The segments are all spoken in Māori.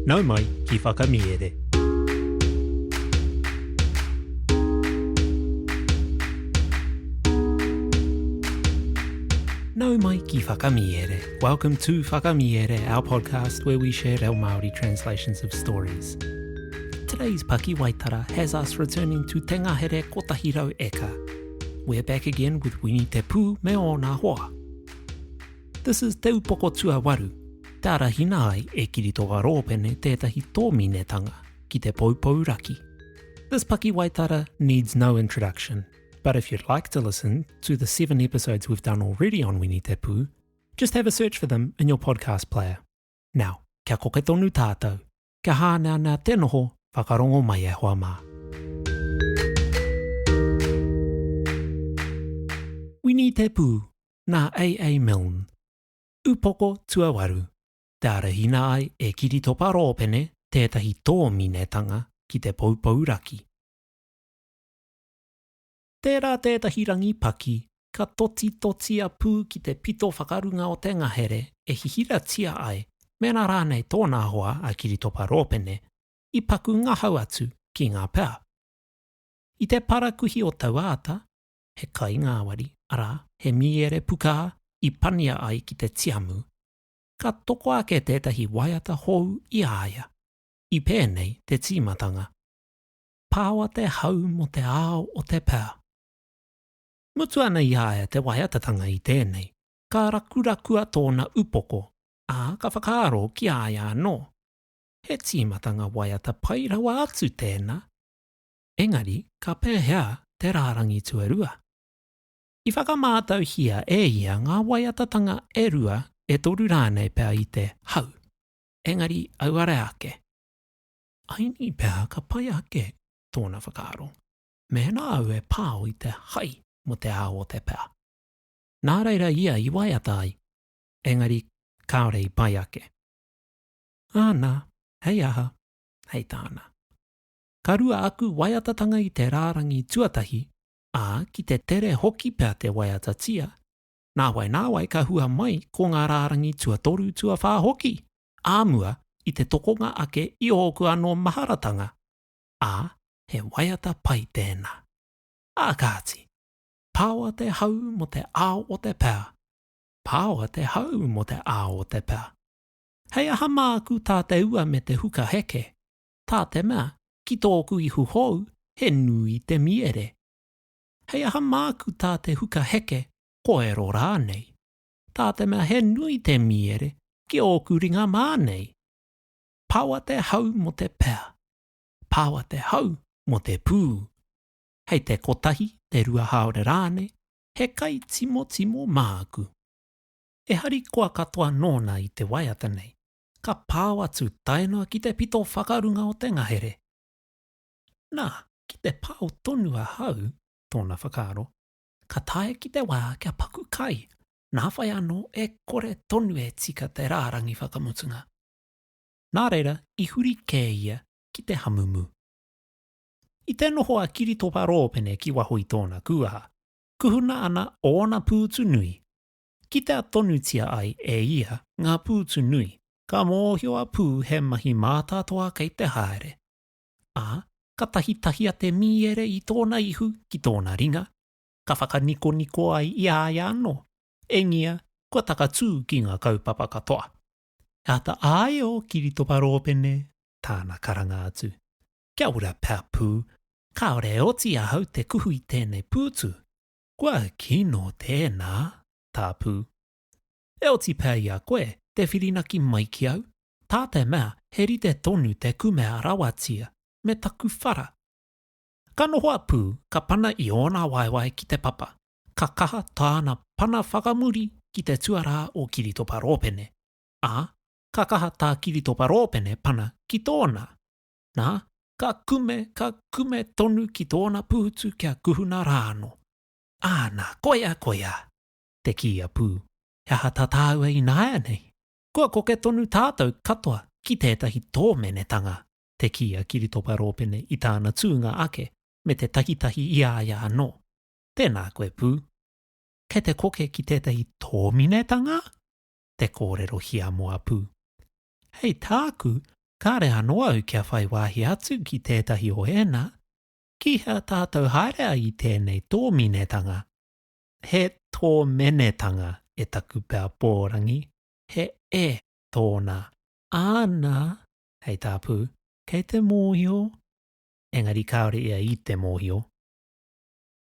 Nau mai ki Whakamiere. Nau mai ki Whakamiere. Welcome to Whakamiere, our podcast where we share our Māori translations of stories. Today's Pakiwaitara has us returning to Te Ngahere Kotahi Rau Eka. We're back again with Wini Te Pū me ōna hoa. This is Te Upoko Tuawaru, te arahina ai e Kiritoa Roopene tētahi tōminetanga ki te poupou raki. This pakiwaitara needs no introduction, but if you'd like to listen to the seven episodes we've done already on Wini Te Pū, just have a search for them in your podcast player. Now, kia koke tonu tātou! kia hāneanea te noho whakarongo mai e hoa mā. Wini Te Pū, nā AA Milne. Upoko tuawaru, te arahina ai e Kiritopa Rōpene tētahi tōminetanga ki te poupou raki. Tērā tētahi rangi paki, ka totitotia pū ki te pito whakarunga o te ngahere e hihiratia ai, mēnā rānei tōna hoa a Kiritopa Rōpene i paku ngahau atu ki ngā pea. I te parakuihi o taua ata, he kai ngāwari, arā, he mīere pukā i pania ai ki te tiamu, ka toko ake tētahi waiata hou i a ia, i pēnei te tīmatanga. Pahawa te hau mo te ao o te pea. Mutu ana i a ia te waiatatanga i tēnei, ka rakurakua tōna upoko, ā, ka whakaaro ki a ia anō, he tīmatanga waiata pai rawa atu tēnā. Engari ka pēhea te rārangi tuarua? I whakamātauhia e ia ngā waiatatanga e rua, e toru rānei pea i te hau, engari auare ake. Aini pea ka pai ake tōna whakaaro, mēnā au e pao i te hai mō te ao o te pea. Nā reira ia i waiata ai, engari kāore i pai ake. Āna, hei aha, hei tāna. Ka rua aku waiatatanga i te rārangi tuatahi, ā, ki te tere hoki pea te waiatatia, nāwai nāwai ka hua mai ko ngā rārangi tuatoru, tuawhā hoki, ā mua i te tokonga ake i ōku anō maharatanga, ā, he waiata pai tēnā. Ā kāti, pāoa te hau mō te ao o te pea, pāoa te hau mō te ao o te pea. Hei aha māku tā te ua me te huka heke, tā te mea ki tōku ihu hou he nui te miere? Hei aha māku tā te huka heke koero rānei? tā te mea he nui te mīere ki ōku ringa mā nei. Pawa te hau mō te pea. Pawa te hau mō te pū. Hei te kotahi, te rua haore rānei, he kai timotimo māku. E harikoa katoa nōna i te waiata nei, ka pao atu tae noa ki te pito whakarunga o te ngahere. Nā, ki te pao tonu ahau, tōna whakaaro, ka tae ki te wā kia paku kai, nā whai anō e kore tonu e tika te rārangi whakamutunga. Nā reira i huri kē ia ki te hamumu. I te noho a Kiritopa Rōpene ki waho i tōna kūaha, kuhuna ana ōna pūtu nui. Kitea tonutia ai e ia ngā pūtu nui, ka mōhio a Pū he mahi mātātoa kei te haere. ā, ka tahitahia te mīere i tōna ihu ki tōna ringa, ka whakanikoniko ai i a ia anō, engia, kua takatū ki ngā kaupapa katoa. E āta āia ō kiritopa rōpene, tāna karanga atu. Kia ora, Papū, kāore e oti ahau te kuhu i tēnei pūtu. Kua kino tēnā, tā Pū. E oti pea i a koe te whirinaki mai ki au, tā te mea he rite tonu te kumea rawatia me taku whara. Ka noho a Pū, ka pana i ōna waewae ki te papa, ka kaha tāna pana whakamuri ki te tuarā o Kiritopa Rōpene, ā, ka kaha tā Kiritopa Rōpene pana ki tōna. Nā, ka kume, ka kume tonu ki tōna pūtu kia kuhuna rā anō. Ā, nā, koia, koia! te kī a Pū. He aha tā tāua ināianei? Kua koke tonu tātou katoa ki tētahi tōmenetanga, te kī a Kiritopa Rōpene i tāna tūnga ake me te takitahi i a ia anō. Tēnā koe, Pū. Kei te koke ki tētahi tōminetanga? te kōrero hiamo a Pū. Hei tāku, kāre anō au kia whai wāhi atu ki tētahi o ēnā. Ki hea tātou haere ai i tēnei tōminetanga? He tōmenetanga e taku pea pōrangi, he e tōna. Āna, hei tā Pū, kei te mōhio, engari kāore ia i te mōhio.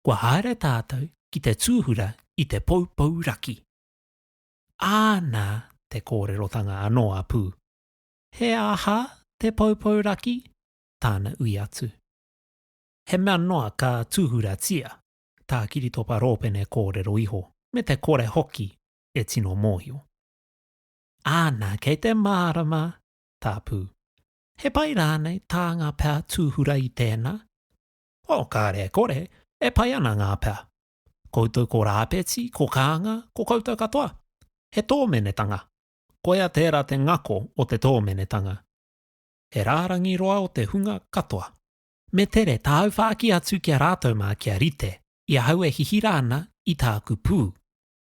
Kua haere tātou ki te tūhura i te poupou raki. Āna te kōrerotanga anō a Pū. He aha te poupou raki? Tāna ui atu. He mea noa ka tūhuratia. tā Kiritopa Rōpene kōrero iho, me te kore hoki e tino mōhio. Āna, kei te mārama tā Pū. He pai rānei tā ngā pea tūhura i tēnā? Oh, kāre e kore, e pai ana ngā pea. Koutou ko Rāpeti, ko Kānga, ko koutou katoa. He tōmenetanga. Koia tērā te ngako o te tōmenetanga. He rārangi roa o te hunga katoa. Me tere tāu whāki atu ki a rātou mā kia rite, i ahau e hihira ana i tāku pū.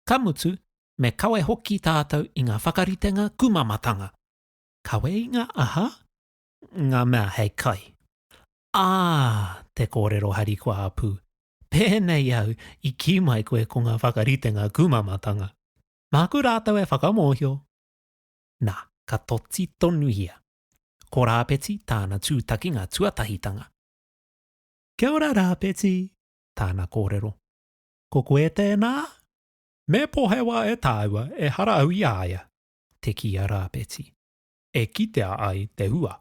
Ka mutu, me kawe hoki tātou i ngā whakaritenga kumamatanga. Kawe i ngā aha? Ngā mea hei kai. Ā, te kōrero harikoa a Pū, pēnei au i kī mai koe ko ngā whakaritenga kumamatanga. Māku rātou e whakamōhio. Nā, ka toti tonuhia. Ko Rāpeti tāna tūtakinga tuatahitanga. Kia ora Rāpeti, tāna kōrero. Ko koe tēnā? Me pohewa e tāua, ehara au i a ia, te kī a Rāpeti, e kitea ai te hua.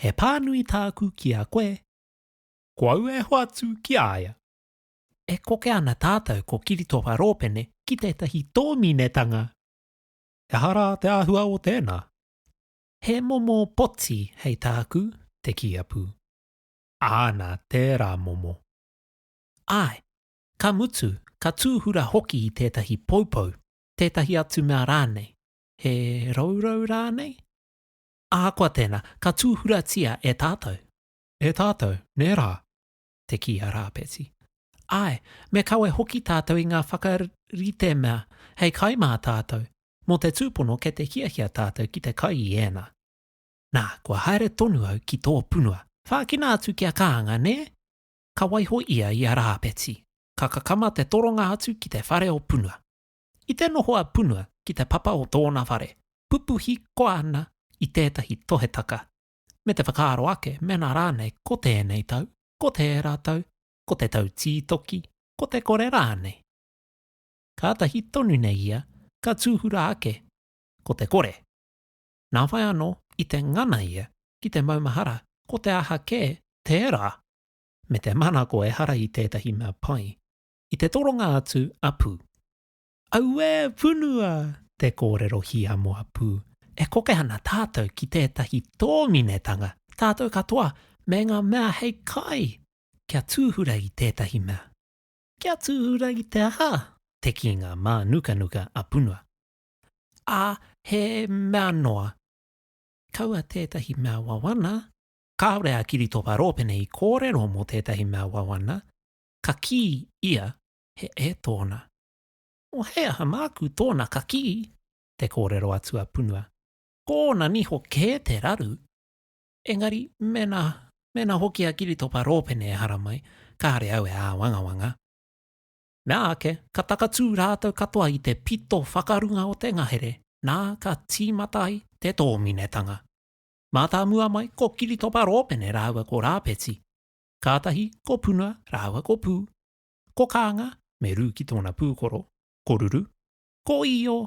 He pānui tāku ki a koe. Ko au e hoatu ki a ia. E koke ana tātou ko Kiritopa Rōpene ki tētahi tōminetanga! Ehara te āhua o tēnā, He momo poti hei tāku te kīapu. Āna tērā momo. Āe, ka mutu, ka tūhura hoki i tētahi poupou, tētahi atu mea rānei, he rourou rānei? Ahakoa tēnā, ka tūhuratia e tātou. E tātou, nē rā? te kī a Rāpeti. Āe, me kawe hoki tātou i ngā whakaritemea hei kai mā tātou, mō te tūpono kei te hiahia tātou ki te kai i ēnā. Nā, kua haere tonu au ki tō punua. Whākina atu ki a Kānga, nē? Ka waiho ia i a Rāpeti, ka kakama te toronga atu ki te whare o punua. I te noho a punua ki te papa o tōna whare, pupuhi koa ana i tētahi tohetaka me te whakaaro ake mēnā rānei ko tēnei tau, ko tērā tau, ko te tau tītoki, ko te kore rānei. Kātahi tonu nei ia ka tūhura ake ko te kore. Nā whai anō i te ngana ia ki te maumahara ko te aha kē tērā me te manako ehara i tētahi mea pai i te toronga atu a Pū. Auē punua! Te kōrero hiamoa pū. E koke ana tātou ki tētahi tōminetanga, tātou katoa me ngā mea hei kai kia tūhura i tētahi mea. Kia tūhura i te aha? Te kīnga mānukanuka a Punua. Ā, he mea noa. Kaua tētahi mea wawana. Kāore a Kiritopa Rōpene i kōrero mō tētahi mea wawana, ka kī ia he e tōna. Nō he aha māku tōna kakī? te kōrero atu a Punua. Kōna niho kē te raru. Engari, mēnā, mēnā hoki a Kiritopa Rōpene e haramai, kāre au e āwangawanga. Mea ake, ka takatū rātou katoa i te pito whakarunga o te ngahere, nā, ka tīmata ai te tōminetanga. Mātāmua mai ko Kiritopa Rōpene rāua ko Rāpeti. Kātahi ko Punua rāua ko Pū, Ko Kānga, me rū ki tōna pūkoro, ko Ruru, ko Io,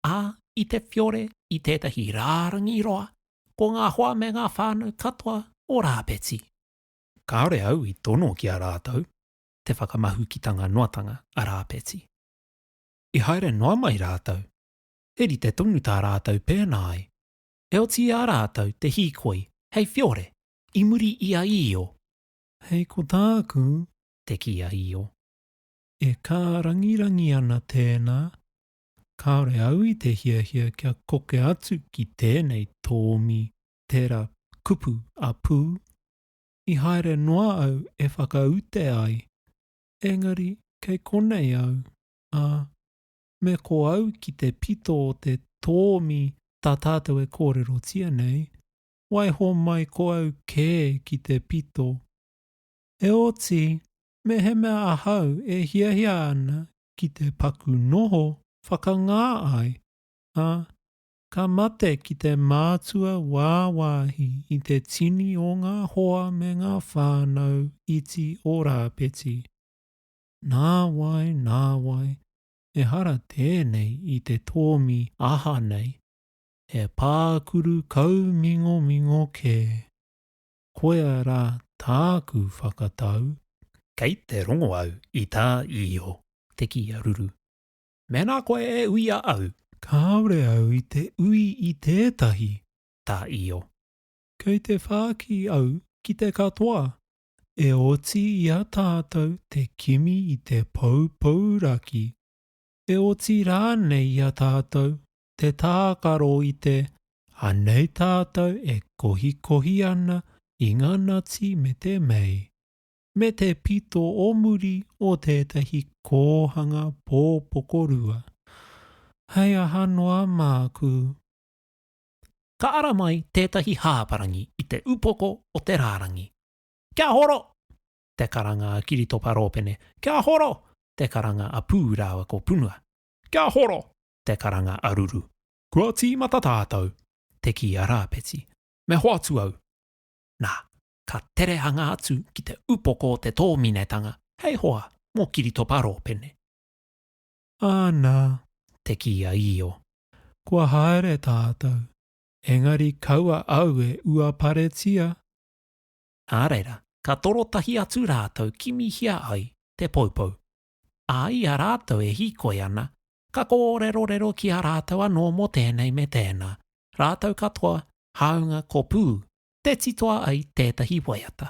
ā, i te whiore i tētahi rārangi roa, ko ngā hoa me ngā whānau katoa o Rāpeti. Kāore au i tono ki a rātou te whakamahukitanga noatanga a Rāpeti. I haere noa mai rātou, he rite tonu tā rātou pēnā ai, heoti i a rātou te hīkoi hei whiore i muri i a Io. Hei ko tāku, te kī a Io. E kārangirangi ana tēnā, kāore au i te hiahia kia koke atu ki tēnei tōmi tera kupu a Pū. I haere noa au e whakaute ai, engari kei konei au, ā, me ko au ki te pito o te tōmi tā tātou e kōrerotia nei, waiho mai ko au kē ki te pito. Heoti, mehemea ahau e hiahia ana ki te paku noho whakangā ai, ā, ka mate ki te mātua wāwāhi i te tini o ngā hoa me ngā whānau iti o Rāpeti. Nāwai, nāwai, ehara tēnei i te tōmi aha nei, he pākuru kaumingomingo kē. koia rā tāku whakatau. Kei te rongo au i tā Iho te kī a Ruru. Mēnā koe e uia au. Kāore au i te ui i tētahi. Tā Iho. Kei te whāki au ki te katoa. E oti i a tātou te kimi i te poupou raki. E oti rānei i a tātou te tākaro i te, anei tātou e kohikohi ana i ngā nati me te mei, me te pito o muri o tētahi kōhanga pōpokorua. Hei aha noa māku? Ka ara mai tētahi hāparangi i te upoko o te rārangi. Kia horo! te karanga a Kiritopa Rōpene, kia horo! te karanga a Pū rāua ko Punua. Kia horo! te karanga aruru. Kua tīmata tātou, te kī a Rāpeti. Me hoatu au. Nā, ka tere hanga atu ki te upoko o te tōminetanga, hei hoa mō Kiritopa Rōpene. Anā, te kī a Io. Kua haere tātou, engari kaua au e uaparetia. Nā reira, ka toro tahi atu rātou kimihia ai te poupou. Ā, i a rātou e hīkoi ana, Ka kōrerorero ki a rātou anō mō tēnei me tēnā, rātou katoa, hāunga ko Pū, tē titoa ai tētahi waiata.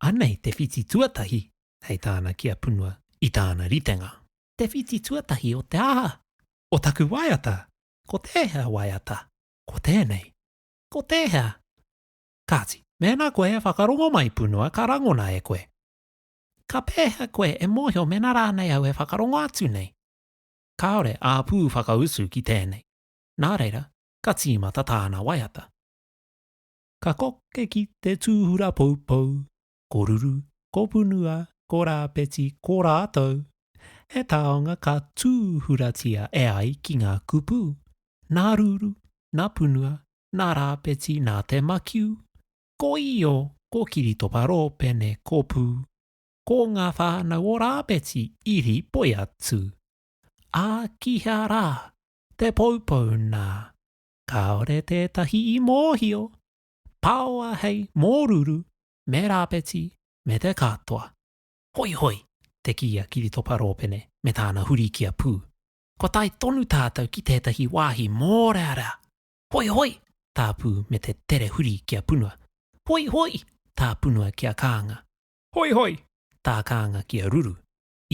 Anei te whiti tuatahi, hei tāna ki a Punua, i tāna ritenga. Te whiti tuatahi o te aha? O taku waiata! Ko tēhea waiata? Ko tēnei. Ko tēhea? Kāti, mēnā koe e whakarongo mai, Punua, ka rangona e koe. Ka pēhea koe e mōhio mēnā rānei au e whakarongo atu nei? Kāore āpū whakausu ki tēnei. Nā reira, ka tīmata tāna waiata. Ka koke ki te tūhura poupou, ko Ruru, ko Punua, ko Rāpeti, ko rātou. He taonga ka tūhuratia e ai ki ngā kupu, nā Ruru, nā Punua, nā Rāpeti, nā Te Makiu, Ko Io, ko Kiritopa Rōpene, ko Pū, ko ngā whānau o Rāpeti, Iri, Poiatu. Ā, ki hea rā? Te Poupou nā. Kāore tētahi i mōhio. Paoa hei mōruru me Rāpeti me te katoa. Hoihoi! te kī a Kiritopa Rōpene me tāna huri ki a Pū. Kua tae tonu tātou ki tētahi wāhi mōrearea! Hoi hoi! tā Pū me te tere huri ki a Punua. Hoi hoi! tā Punua ki a Kānga. Hoi hoi! tā Kānga ki a Ruru.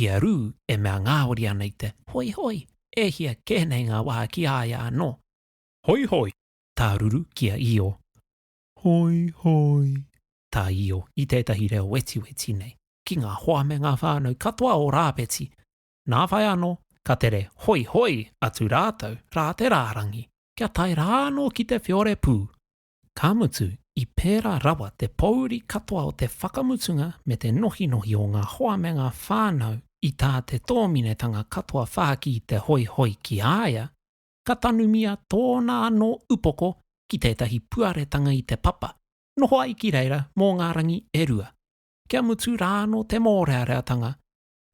I a Rū e mea ngāwari ana i te hoi hoi, e hia kē nei ngā wā ki a ia anō. Hoi hoi! tā Ruru ki a Io. Hoi hoi! tā Io i tētahi reo wetiweti nei ki ngā hoa me ngā whānau katoa o Rāpeti. Nā whai anō, ka tere hoihoi atu rātou rā te rārangi, kia tae rā anō ki te whiore pū. Ka mutu, i pērā rawa te pōuri katoa o te whakamutunga me te nohinohi o ngā hoa me ngā whānau i tā te tōminetanga katoa whāki te hoihoi ki a ia, ka tanumia tōna anō upoko ki tētahi puaretanga i te papa, noho ai ki reira mō ngā rangi e rua. Kia mutu rā anō te mōreareatanga,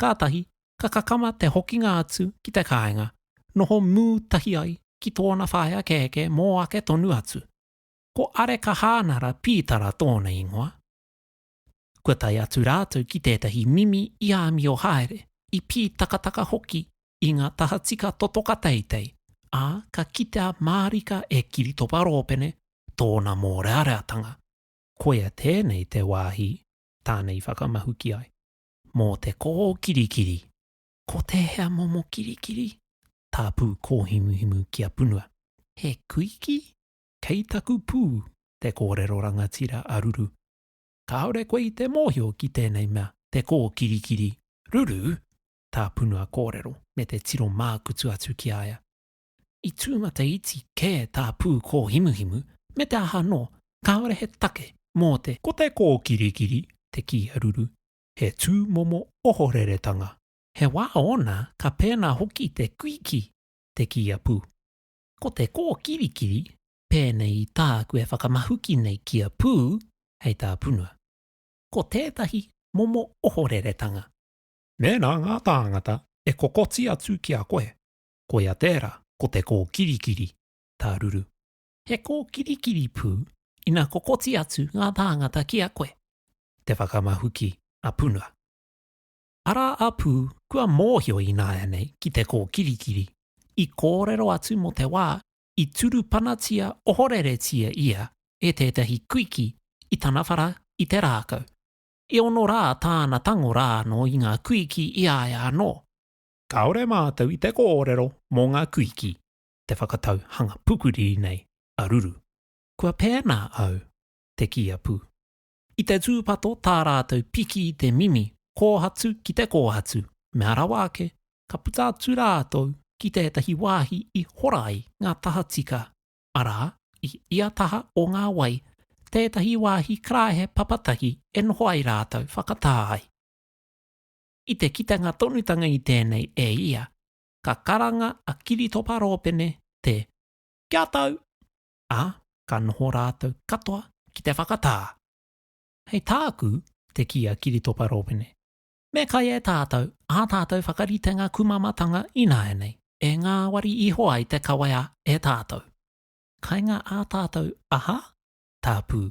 kātahi ka kakama te hokinga atu ki te kāinga, noho mū tahi ai ki tōna whaea kēkē mō ake tonu atu. Ko Areka Hānara Pītara tōna ingoa. Kua tae atu rātou ki tētahi mimi i āmio haere, i pītakataka hoki i ngā tahatika totoka teitei, ā, ka kitea mārika e Kiritopa Rōpene tōna mōreareatanga. Koia tēnei te wāhi tāna i whakamahuki ai. mō te koho kirikiri. Ko tēhea momo kirikiri? Tāpū kōhimuhimu ki a Punua. He kuiki? Kei taku pū, te kōrero rangatira a Ruru. Kāore koe i te mōhio ki tēnei mea, te koho kirikiri, Ruru? tā Punua kōrero me te tiro mākutu atu ki a ia. I tūmata iti kē tā Pūkōhimuhimu, me te aha anō, kāore he take mō te. Ko te kōkirikiri, te kīharuru, he tūmomo ohoreretanga. He wā ōna ka pēnā hoki te kuiki, te kīapu. Ko te kōkirikiri, pēnei i tāku e whakamahuki nei kia pū, hei tā Punua. Ko tētahi momo ohoreretanga. Mēnā ngā tāngata e kokoti atu ki a koe, koia tērā, ko te kōkirikiri tāruru. He kōkirikiri pū ina kokoti atu ngā tāngata ki a koe, te whakamahuki a Puna. Arā a Pū kua mōhio ināianei ki te kōkirikiri, i kōrero atu mō te wā i turupanatia ohoreretia ia e tētahi kuiki i tana whara i te rākau. I ono rā tāna tango rā anō i ngā kuiki i a ia anō. Kāore mātou i te kōrero mō ngā kuiki te whakatau hanga pukuri nei a Ruru. Kua pēnā au, te kī a Pū. I te tūpato tā rātou piki i te mimi, kōhatu ki te kōhatu, mea rawa ake, ka puta atu rātou ki tētahi wāhi i hora ai ngā tahatika, arā, i ia taha o ngā wai, tētahi wāhi karāhe papatahi e noho ai rātou whakatā ai. I te kitenga tonutanga i tēnei e ia, ka karanga a Kiritopa Rōpene te Kia tau! ā, ka noho rātou katoa ki te whakatā. Hei tāku, te kī a Kiritopa Rōpene, me kai e tātou ā tātou whakaritenga kumamatanga ināianei e ngāwari iho ai te kawea e tātou. Kainga ā tātou aha? Tāpū.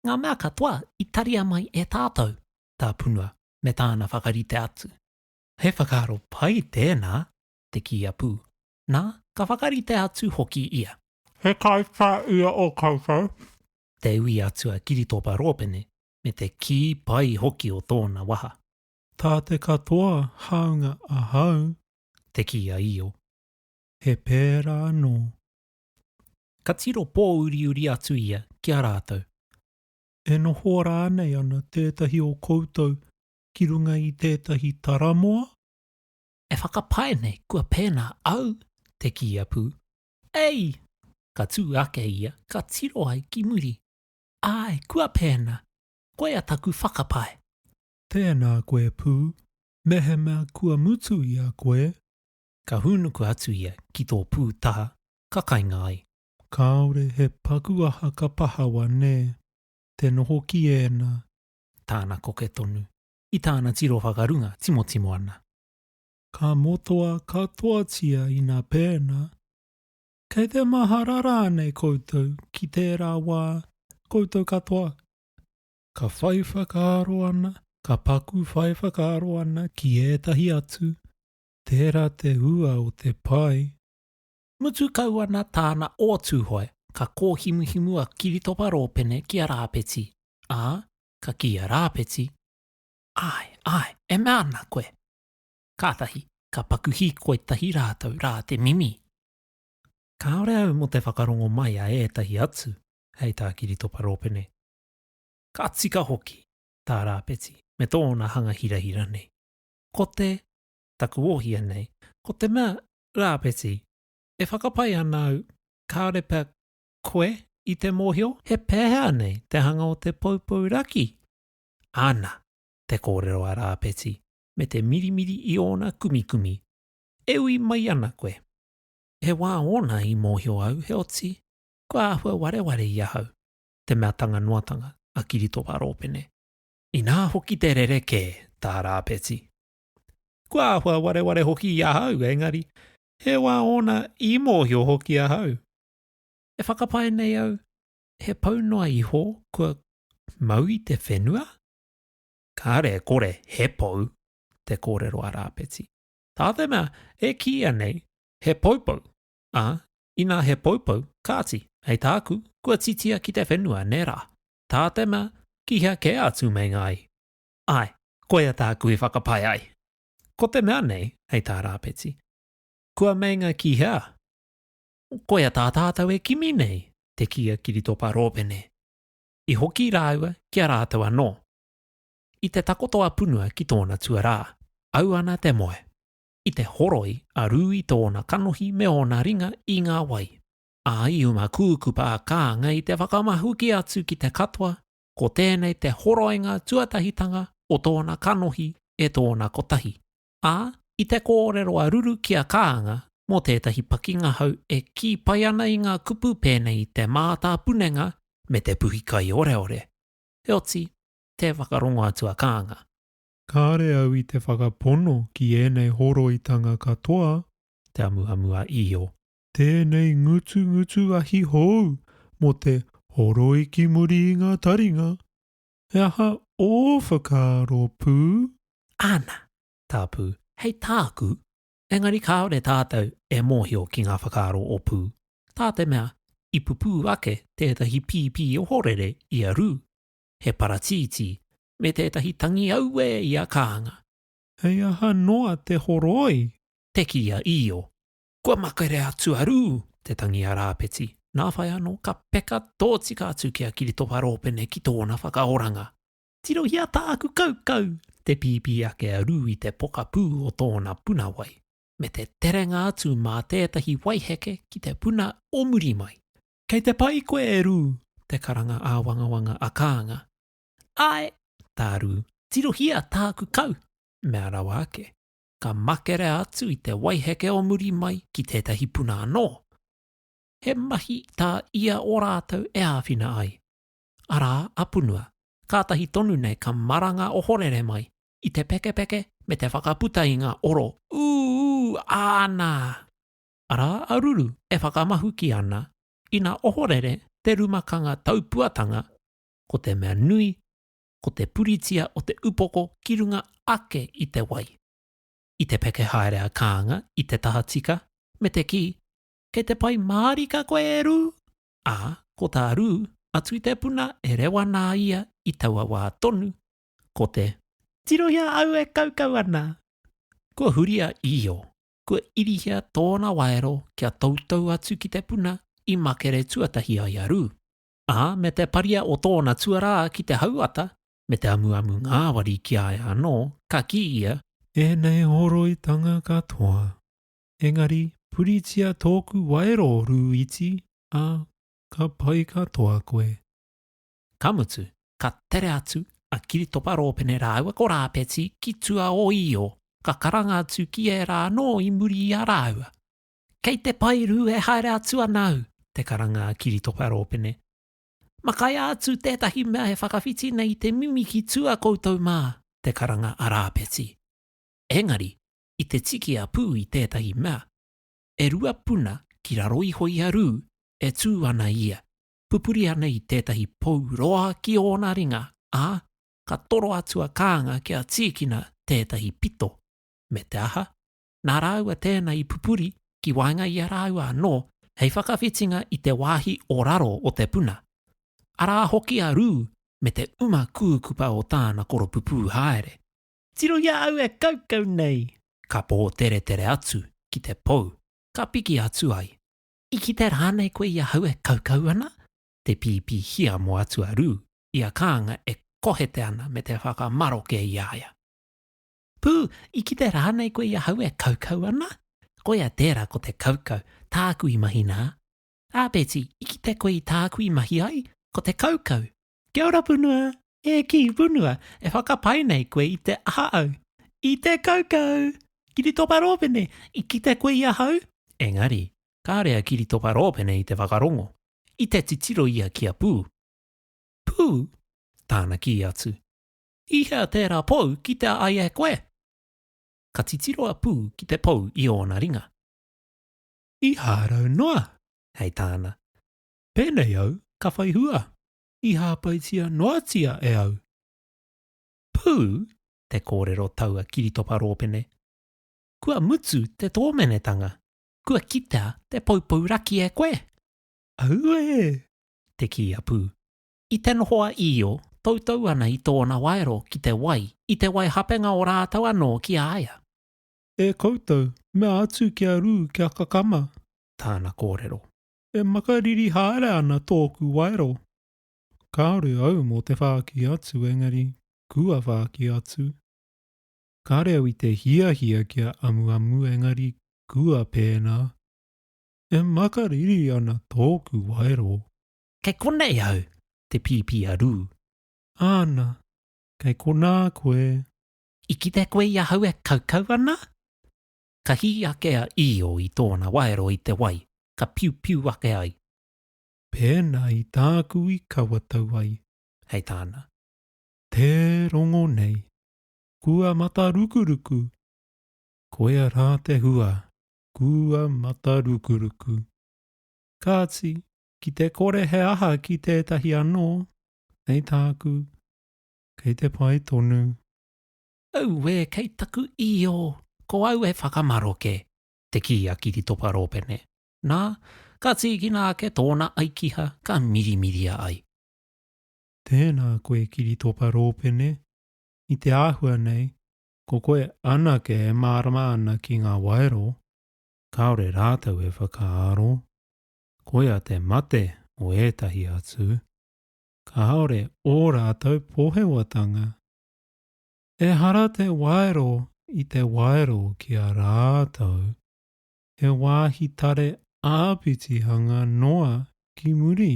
ngā mea katoa i taria mai e tātou, tā Punua me tāna whakarite atu. He whakaaro pai tēnā, te kī a Pū, nā, ka whakarite atu hoki ia. He kaitā ia o koutou? Te ui atu a Kiritopa Rōpene, me te kī pai hoki o tōna waha. Tā te katoa hāunga ahau. Te kī a Io. He pērā anō. Ka tiro pōuriuri atu ia ki a rātou. E noho rānei ana tētahi o koutou ki runga i tētahi taramoa? E whakapae nei kua pēnā au te kīia pū. Ei! Ka tū ake ia, ka tiro ai ki muri. Āe, kua pēnā. Koia taku whakapae. Tēnā koe pū, mehemea kua mutu i a koe, ka hūnuku atu ia ki tō pū taha ka kainga ai. Kāore he paku aha ka pahawa nē, te noho ki ēnā. Tāna koke tonu, i tāna tiro whakarunga timotimo ana. Ka motoa katoatia ina pēnā. Kei te mahara rānei koutou ki tērā wā, koutou katoa? Ka whai whakaaro ana, ka paku whai whakaaro ana ki ētahi atu, Tērā te hua o te pae. Mutu kau ana tāna o Tūhoe, ka kōhimuhimu a Kiritopa Rōpene ki a Rāpeti, ā, ka kī a Rāpeti, Āe, āe, e mea ana koe! Kātahi, ka paku hīkoi tahi rātou rā te mimi. Kāore au mō te whakarongo mai a ētahi atu, hei tā Kiritopa Rōpene. Ka tika hoki tā Rāpeti me tōna hanga hirahira nei. Ko te. Taku ohia nei. Ko te mea, Rāpeti, e whakapae ana au, kāore pea koe i te mōhio? He pēhea nei te hanga o te poupou raki? Ana te kōrero a Rāpeti me te mirimiri i ōna kumikumi. E ui mai ana koe. He wā ōna i mōhio au, heoti, kua āhua wareware i ahau te mea tanga noatanga a Kiritopa Rōpene. Inā hoki te rerekē, tā Rāpeti. Kua āhua wareware hoki i ahau, engari, he wā ōna i mōhio hoki ahau. E whakapae nei au, he pau noa iho kua mau i te whenua? Kāre e kore he pou, te kōrero a Rāpeti. Tā te mea e kīia nei, he poupou, ā, inā he poupou, kāti, hei tāku, kua titia ki te whenua, nē rā? Tātena, ki hea kē atu meinga ai? Āe, koia tāku i whakapae ai. Ko te mea nei, hei tā Rāpeti, kua meinga ki hea? Koia tā tātou e kimi nei, te kī a Kiritopa Rōpene. I hoki rāua ki a rātou anō. I te takoto a Punua ki tōna tuarā, au ana te moe. I te horoi a Rūi tōna kanohi me ōna ringa i ngā wai. ā, i ūna kūku pā kānga i te whakamahuki atu ki te katoa, ko tēnei te horoinga tuatahitanga o tōna kanohi e tōna kotahi, ā, i te kōrero a Ruru ki a Kānga mō tētahi pakingahau e kī pai ana i ngā kupu pēnei i te mātāpunenga me te puhi kaioreore, heoti, tē whakarongo atu a Kānga. Kāre au i te whakapono ki ēnei horoitanga katoa. Te amuamu a Io. Tēnei ngutungutu ahi hou mō te horoi ki muri i ngā taringa, he aha ō whakaaro pū? Ana, tā Pū, hei tāku, engari kāore tātou e mōhio ki ngā whakaaro o Pū, tā te mea i pupū ake tētahi pīpī ohorere i a Rū, he paratītī, me tētahi tangi auē i a Kānga. Hei aha noa te horoi? Te kī a Io, Kua makere a Tuarū te tangi a Rāpeti, nā whai anō ka peka tōtika atu ki a Kiritopa Rōpene ki tōna whakaoranga. Tirohia tāku kaukau! te pīpī ake a Rū i te pokapū o tōna puna wai, me te terenga atu mā tētahi waiheke ki te puna o muri mai. Kei te pai koe e Rū! te karanga āwangawanga a Kānga. Āe! tā Rū, tirohia tāku kau! mea rawa ake. ka makere atu i te waiheke o muri mai ki tētahi puna anō. He mahi tā ia o rātou e āwhina ai, arā a Punua, kātahi tonu nei ka maranga ohorere mai i te pekepeke me te whakaputa i ngā oro ūū āna, arā a Ruru e whakamahuki ana ina ohorere te rumakanga taupuatanga ko te mea nui ko te puritia o te upoko ki runga ake i te wai. I te peke haere a Kānga i te tahatika me te kī, Kei te pai mārika koe e Rū! Ā, ko tā Rū, a Tuitepuna e rewa nā ia i taua wā tonu, ko te. Tirohia au e kaukau ana! Kua huri a Io, kua irihia tōna waero kia toutou atu ki te puna i makere tuatahi ai a Rū. ā, me te paria o tōna tuarā ki te hauata, me te amuamu ngāwari ki a ia anō, ka kī ia, Ēnei horoitanga katoa, engari puritia tōku waero rū iti, ā, ka pai katoa koe. Ka mutu, ka tere atu a Kiritopa Rōpene rāua ko Rāpeti ki Tua-o-Io, ka karanga atu ki ērā anō i muri i a rāua. Kei te paeru e haere atu ana au, te karanga a Kiritoka Rōpene. Makaia atu tētahi mea e whakawhiti nei te mimi ki tua koutou mā, te karanga a Rāpeti. Engari, i te tiki a Pū i tētahi mea, e rua puna ki raro iho i a Rū e tū ana ia, pupuri ana i tētahi pou roa ki ōna ringa, ā, ka toro atu a Kānga kia tīkina tētahi pito. Me te aha? nā rāua tēnā i pupuri ki waenga i a rāua anō hei whakawhitinga i te wāhi o raro o te puna. Arā hoki a Rū me te uma kūkupa o tāna koropupū haere. Tiro i a au e kaukau nei! Ka pōteretere atu ki te pou, ka piki atu ai. I kite rānei koe i ahau e kaukau ana? te pīpī hiamo atu a Rū i a Kānga e kohete ana me te whakamaroke i a ia. Pū, i kite rānei koe i ahau e kaukau ana? Koia tērā ko te kaukau, tāku i mahi nā. Ā, Beti, i kite koe i tāku i mahi ai? Ko te kaukau. Kia ora, Punua! E kī, Punua, e whakapae nei koe i te aha au? I te kaukau! Kiritopa Rōpene, i kite koe i ahau? Engari, kāore a Kiritopa Rōpene i te whakarongo, i te titiro ia ki a Pū. Pū? Tāna kī atu. I hea tērā pou kitea ai e koe? Ka titiro a Pū ki te pou i ōna ringa. I hārau noa, hei tāna. Pēnei au ka whai hua, i hāpaitia noatia e au. Pū, te kōrero taua kiritopa rōpene. Kua mutu te tōmenetanga, kua kitea te poupou raki e koe. Auē! te kī a Pū. I te noho a Io, toutou ana i tōna waero ki te wai, i te wai hapenga o rātou anō ki a ia. E koutou, mea atu kia rū, kia kakama. Tāna kōrero. E makariri haere ana tōku waero. Kāore au mō te whāki atu engari kua whāki atu. Kāore au i te hiahia kia amuamu engari kua pēnā. E makariri ana tōku waero. Kei konei au, te pīpī a Rū. Āna, kei konā koe. I kite koe i ahau e kaukau ana? Ka hī ake a Io i tōna waero i te wai, ka piupiu ake ai. Pēnā i tāku i kawatau ai. Hei tāna. Tē rongo nei. Kua matarukuruku. Koia rā te hua, kua matarukuruku. Kāti, Ki te kore he aha ki tētahi anō, hei tāku, kei te pai tonu. Auē, kei taku io, ko au e whakamaroke, te kī a Kiritopa Rōpene. Nā, ka tīkina ake tōna aikiha, ka mirimiria ai. Tēnā koe Kiritopa Rōpene, i te āhua nei, ko koe anake e mārama ana ki ngā waero, kāore rātou e whakaaro. koia te mate o ētahi atu, kāore ō rātou pohewatanga. Ehara te waero i te waero ki a rātou, he wāhi tare āpitihanga noa ki muri.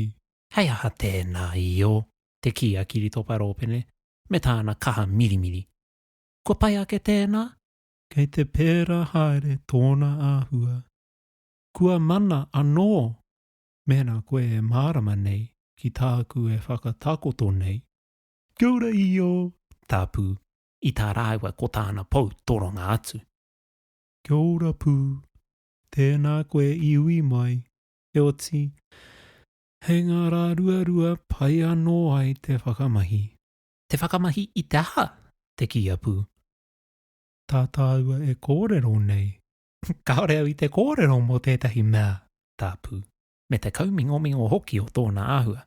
Hei aha tēnā i ō te kī a Kiritopa Rōpene me tāna kaha mirimiri? Kua pai ake tēnā? Kei te pērā haere tōna āhua, Kua mana anō mēnā koe e mārama nei ki tāku e whakatakoto nei. Kia ora Io, tā Pū, i tā rāua ko tāna pou toronga atu. Kia ora Pū, tēnā koe i ui mai, heoti, hei ngā rā ruarua pai anō ai te whakamahi. Te whakamahi i te aha? te kī a Pū. Tā tāua e kōrero nei, Kāore au i te kōrero mō tētahi mea tāpū, me te kaumingomingo hoki o tōna āhua.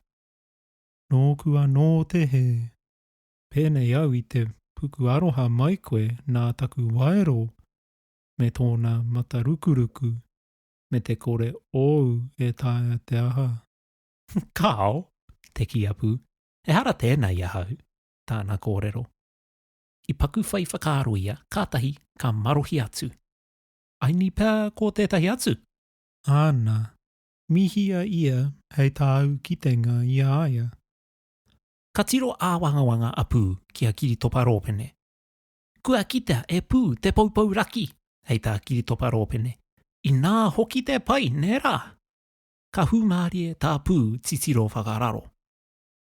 Nōku anō te hē. Pēnei au i te puku aroha mai koe nā taku waero me tōna matarukuruku me te kore ōu e taea te aha. Kāo, te kīapu, ehara tēnā i ahau, tāna kōrero. I paku whai whakaaro ia, kātahi ka marohi atu. Aini pea ko tētahi atu? Āna. Mihia ia hei tāu kitenga i a ia. Ka tiro āwangawanga a Pū ki a Kiritopa Rōpene. Kua kitea e Pū te poupou raki, hei tā Kiritopa Rōpene. Inā hoki te pai, nē rā? Ka hūmārie tā Pū titiro whakararo.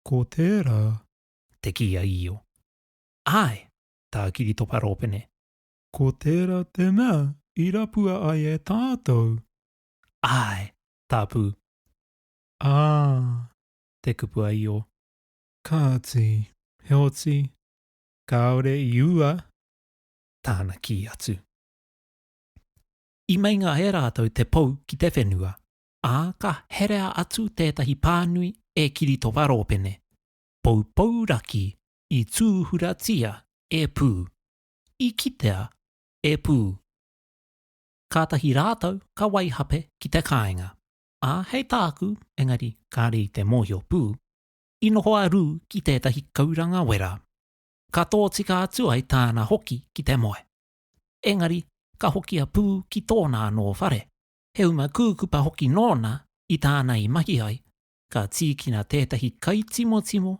Ko tērā. Te kī a Io. Āe, tā Kiritopa Rōpene. Ko tērā te mea i rapua ai e tātou. Āe, tā Pū. Ā. Te kupu a Io. Kāti, heoti, kāore i ua. Tāna kī atu. I meinga e rātou te pou ki te whenua, ā, ka herea atu tētahi pānui e Kiritopa Rōpene. Poupou raki i tūhuratia e Pū, i kitea e Pū. Kātahi rātou ka waihape ki te kāinga, ā, hei tāku, engari kāre i te mōhio pū, i noho a Rū ki tētahi kauranga wera, ka tōtika atu ai tāna hoki ki te moe. Engari ka hoki a Pū ki tōna anō whare, he uma kūkupa hoki nōna i tāna i mahi ai, ka tīkina tētahi kaitimotimo